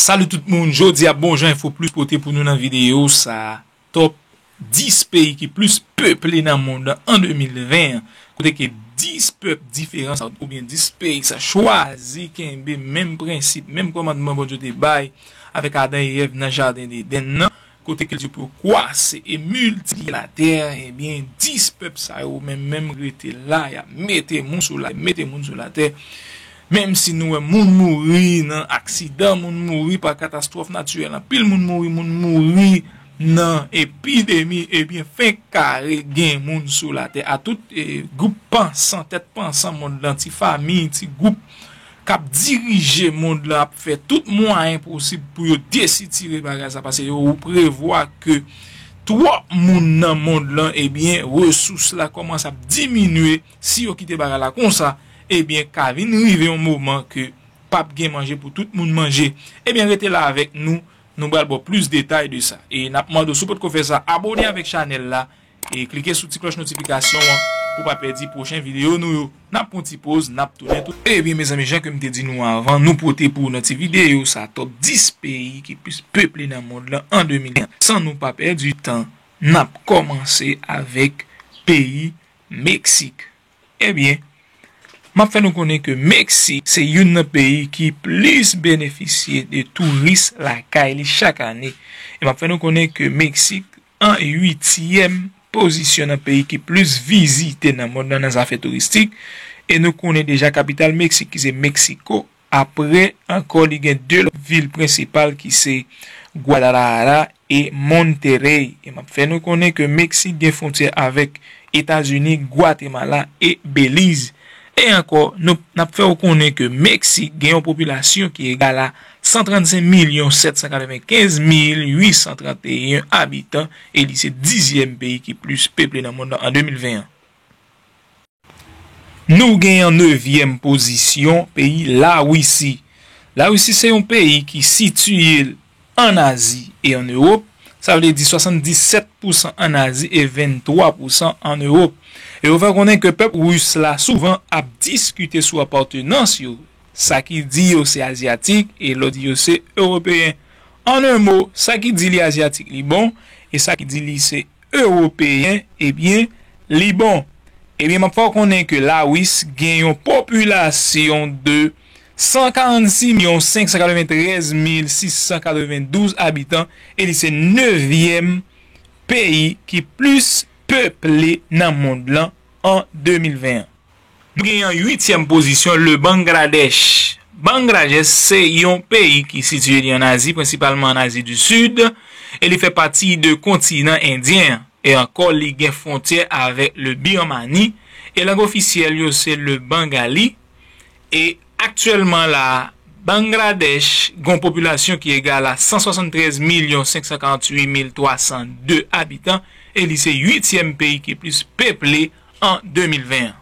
Salut tout moun, jodia bon jan info plus pote pou nou nan video sa top 10 peyi ki plus peple nan mond lan an 2020 an kote ke 10 pèp diferan sa ou byen 10 peyi sa chwazi kenbe menm prensip menm kòmandman Bondye te bay avèk Adan e Èv nan jaden Deden nan. Kote kilti pou yo kwase e miltipliye latè, ebyen 10 pèp sa yo menm menm rete la, y ap mete moun sou latè, mete moun sou latè. Menm si nou wè moun mouri nan aksidan, moun mouri pa katastwòf natirèl, anpil moun mouri, moun mouri nan epidemi, ebyen fenk kare gen moun sou latè. A tout gwoup pansan, tèt pansan mond lan, ti fami, ti gwoup k ap dirije mond lan ap fè tout mwayen posib pou yo desitire bagay sa paske yo prevwa ke twòp moun nan mond lan ebyen resous la kòmanse ap diminye si yo kite bagay la konsa ebyen ka vin rive yon moman ke pap gen manje pou tout moun manje ebyen rete la avèk nou nou pral ba w plis detay de sa e n ap mande w si w potko fè sa abone avèk chanèl la E klike sou ti klòch notifikasyon an pou pa pèdi pwochen videyo nou yo. Nap pran yon ti poz, nap tounen tou. Ebyen mezanmi jan ke m te di nou avan, nou pote pou ou nan ti videyo sa top 10 peyi ki plis peple nan mond lan an 2001. San nou pa pèdi tan, nap kòmanse avèk peyi Meksik. Ebyen, map fè nou konnen ke Meksik se youn nan peyi ki plis benefisye de touris lakay li chak ane. E map fè nou konnen ke Meksik An uityèm pozisyon nan peyi ki plis vizite nan mond lan nan zafè touristik, e nou konnen deja kapital Meksik ki se Meksiko, apre ankò li gen 2 lòt vil prensipal ki se Guadalajara e Monterrey, e map fè nou konnen ke Meksik gen fwontyè avèk Etazini, Gwatemala e Beliz. E ankò, nou nap fè ou konnen ke Meksik gen yon popilasyon ki egal a 135 milyon 795 mil 831 abitan e li se dizyèm peyi ki plis peple nan monn nan an 2020 an. Nou gen an nevyèm pozisyon peyi Lawisi. Lawisi se yon peyi ki sitiye l ann Azi e ann Ewop, sa vle di 77 pousan ann Azi e 23 pousan ann Ewop. E yo fè konnen ke pèp Ris la souvan ap diskite sou apatenans yo Sa ki di yo se Azyatik e lòt di yo se Ewopeyen. An un mo, sa ki di li Azyatik li bon, e sa ki di li se Ewopeyen, ebyen, li bon. Ebyen, m ap fè w konnen ke Lawis gen yon popilasyon de 146 milyon 593 mil 692 abitan e li se nevyèm peyi ki plis peple nan mond lan an 2021. Li gen yon uityèm pozisyon le Bangladesh. Bangrajesh se yon peyi ki sitiye li an Azi, prensipalman an Azi di Sid, e li fè pati de kontinan Endyen an. E ankò li gen fwontyè avèk le Birmani, e lang ofisyèl yo se le Bangali, e aktyèlman la a Bangradesh gen yon popilasyon ki egal a 173 milyon 548 mil 302 abitan e li se uityèm peyi ki plis peple an 2020 an.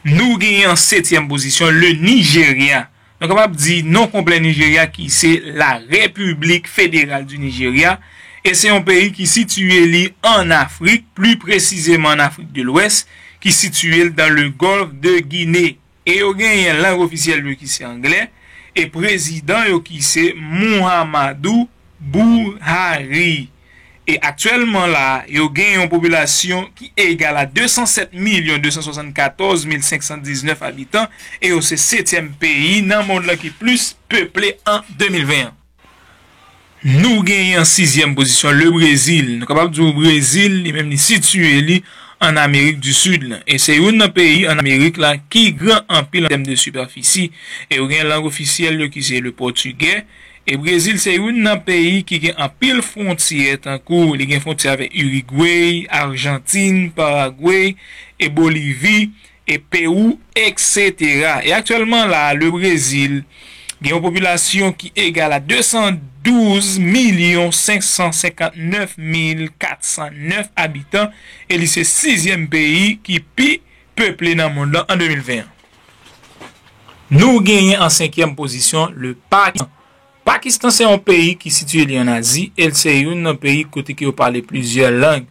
Nou genyen an setyèm pozisyon le Nijerya. Nou kapab di non konplè Nijerya ki se La République Fédérale du Nigeria e se yon peyi ki sitiye li an Afrik, pli presizeman an Afrik de Lwès ki sitiye l dan le Golfe de Guinée. E yo genyen lang ofisyèl yo ki se anglè, e prezidan yo ki se Muhammadu Buhari. E aktyèlman la a, yo gen yon popilasyon ki egal a 207 milyon 274 mil 519 abitan, e yo se setyèm peyi nan mond lan ki plis peple an 2020 an. Nou genyen an sizyèm pozisyon le Brezil. Nou kapab di ou Brezil li menm li sitiye li an Amerik di Sid lan. E se youn nan peyi an Amerik la ki gran anpil an tèm de sipèfisi. E yo gen lang ofisyèl yo ki se le pòtigè. E Brezil se youn nan peyi ki gen anpil fwontyè tankou li gen fwontyè avèk Irigwey, Arjantin, Paragwey e Bolivi. e Pewou, eksetera. E aktyèlman la a, Lebrezil gen yon popilasyon ki egal a 212 milyon 559 mil 409 abitan e li se sizyèm peyi ki pi peple nan mond lan an 2020 an. Nou genyen an senkyèm pozisyon le Pakistan. Pakistan se yon peyi ki sitiye li an Azi e l se youn nan peyi kote ke yo pale plizyè lang.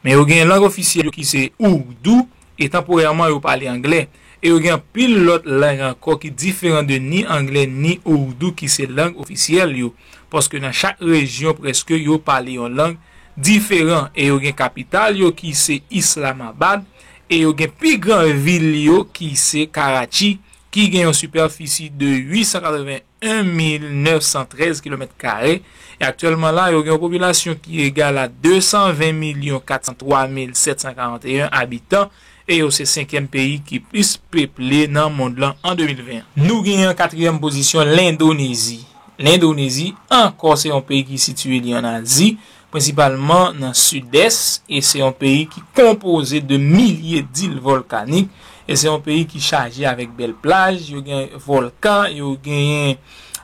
Men yo gen lang ofisyèl yo ki se Ourdou, e tanporèman yo pale anglè. E yo gen anpil lòt lang ankò ki diferan de ni anglè ni Ourdou ki se lang ofisyèl yo, paske nan chak rejyon prèske yo pale yon lang diferan e yo gen kapital yo ki se Islamabad e yo gen pi gran vil yo ki se Karachi ki gen yon sipèfisi de 881 1,913 kilomèt kare, e aktyèlman la yo gen yon popilasyon ki egal a 220 milyon 403 mil 741 abitan, e yo se senkyèm peyi ki plis peple nan mond lan an 2020. Nou gen an katriyèm pozisyon Lendonezi. Lendonezi ankò se yon peyi ki sitiye li an Azi. prensipalman nan sidès, e se yon peyi ki konpoze de milye d'il volkanik, e se yon peyi ki chaje avèk bèl plaj, yo gen volkan, yo genyen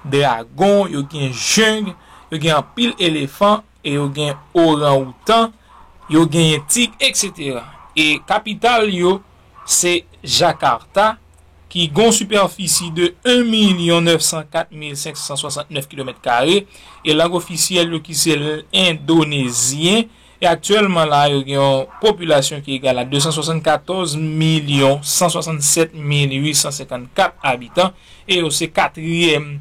dragon, yo gen jeng, yo gen anpil elefan, e yo gen oran-outan, yo genyen tig, etc. E kapital yo, Se Jakarta, ki gon sipèfisi de 1 milyon 904 mil 569 kilomèt kare, e lang ofisyèl yo ki se lndonezyen, e aktyèlman la yo gen yon popilasyon ki egal a 274 milyon 167 mil 854 abitan, e yo se katriyèm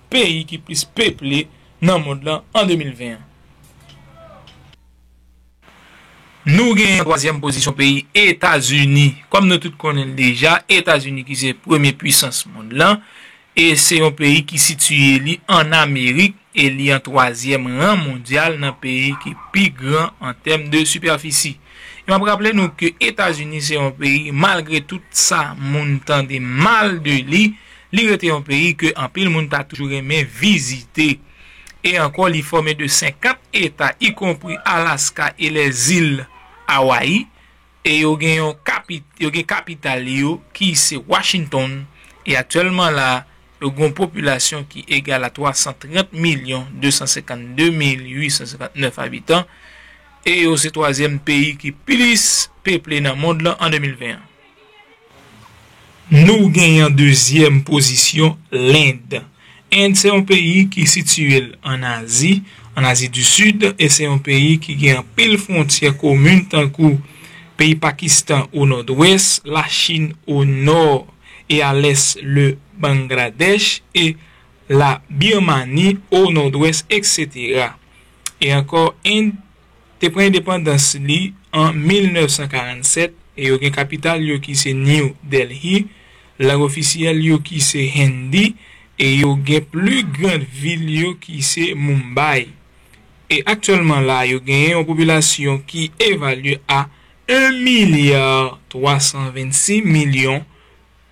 peyi ki plis peple nan mond lan an 2020 an. Nou genyen an twazyèm pozisyon peyi Etazini. Kòm nou tout konnen l deja, Etazini ki se premye puisans mond lan e se yon peyi ki sitiye li ann Amerik e li an twazyèm ran mondyal nan peyi ki pi gran an tèm de sipèfisi. E m ap raple nou ke Etazini se yon peyi malgre tout sa moun tande mal de li, li rete yon peyi ke anpil moun ta toujou renmen vizite. e ankò li fòme de 50 eta ikonpri Alaska e lèzil Awayi e yo gen yon yo gen kapital yo ki se Washington e aktyèlman la yo gen yon popilasyon ki egal a 330 milyon 252 mil 859 abitan e yo se twazyèm peyi ki plis peple nan mond lan an 2020 an. Nou genyen an dezyèm pozisyon Lend. End se yon peyi ki sitiye l ann Azi, ann Azi di Sid, e se yon peyi ki gen anpil fwontyè komun tankou, peyi Pakistan o nòdwès, la Chin o nò e a lès le Bangladèch e la Birmani o nòdwès eksetera. E ankò End. te pran endepandans li an 1947 e yo gen kapital yo ki se New Delhi, lang ofisyèl yo ki se Hindi e yo gen pli gran vil yo ki se Mumbai. E aktyèlman la yo genyen yon popilasyon ki evalye a 1 milyar 326 milyon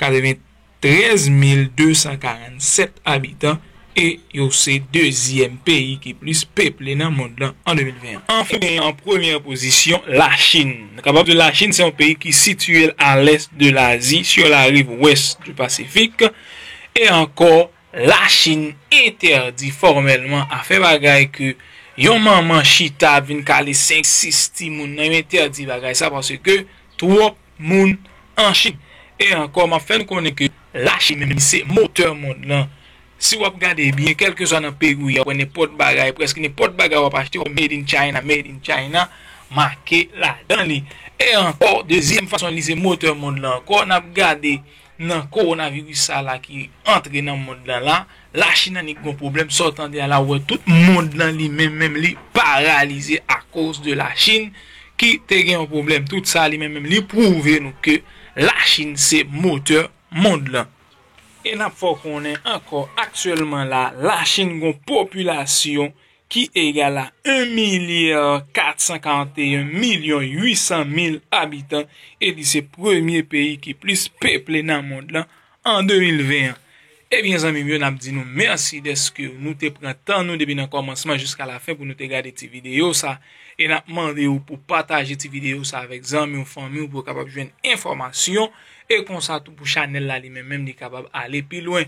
93247 abitan e yo se dezyèm peyi ki plis peple nan mond lan an 2021. Anfen nou genyen an premyè pozisyon Lachin. Nou kapab di Lachin se yon peyi ki sitiye l a lès de Lazi sur la rive ouest du Pacifique. E ankò, Lachin entèdi fòmèlman a fè bagay ke yon manman chita ap vin kale 5, 6 timoun nan. Yo entèdi bagay sa paske twòp moun an Chine. E ankò map fè nou konnen ke la Chine menm se motè mond lan. Si wap gade byen kelkeswa nan peyi ou ye wap wè nenpòt bagay, preske nenpòt bagay wap achte wap made in China, made in China make ladan li. E ankò dezyèm fason li se motè mond lan ankò nap gade Nan coronavirus sa la ki antre nan mond lan la, la chine annik gon pwoblèm, sa w tande a la ou wè tout mond lan li menm menm li paralize a koz de la chine ki te gen yon pwoblèm tout sa li menm menm li pwouve nou ke la chine se motè mond lan. E nap fè w konnen ankò aktyèlman la la chine gon popilasyon ki egal a 1 milya 441 milyon 800 mil abitan e li se premye peyi ki plis peple nan mond lan an 2020 an. Ebyen zanmi m yo n ap di nou mèsi dèske nou te pran tan nou depi nan kòmansman jiska lafen pou nou te gade ti videyo sa e n ap mande ou pou pataje ti videyo sa avèk zanmi w, fanmi w pou yo kapab jwenn enfòmasyon e konsa tou pou chanèl la li menm menm li kapab ale pi lwen.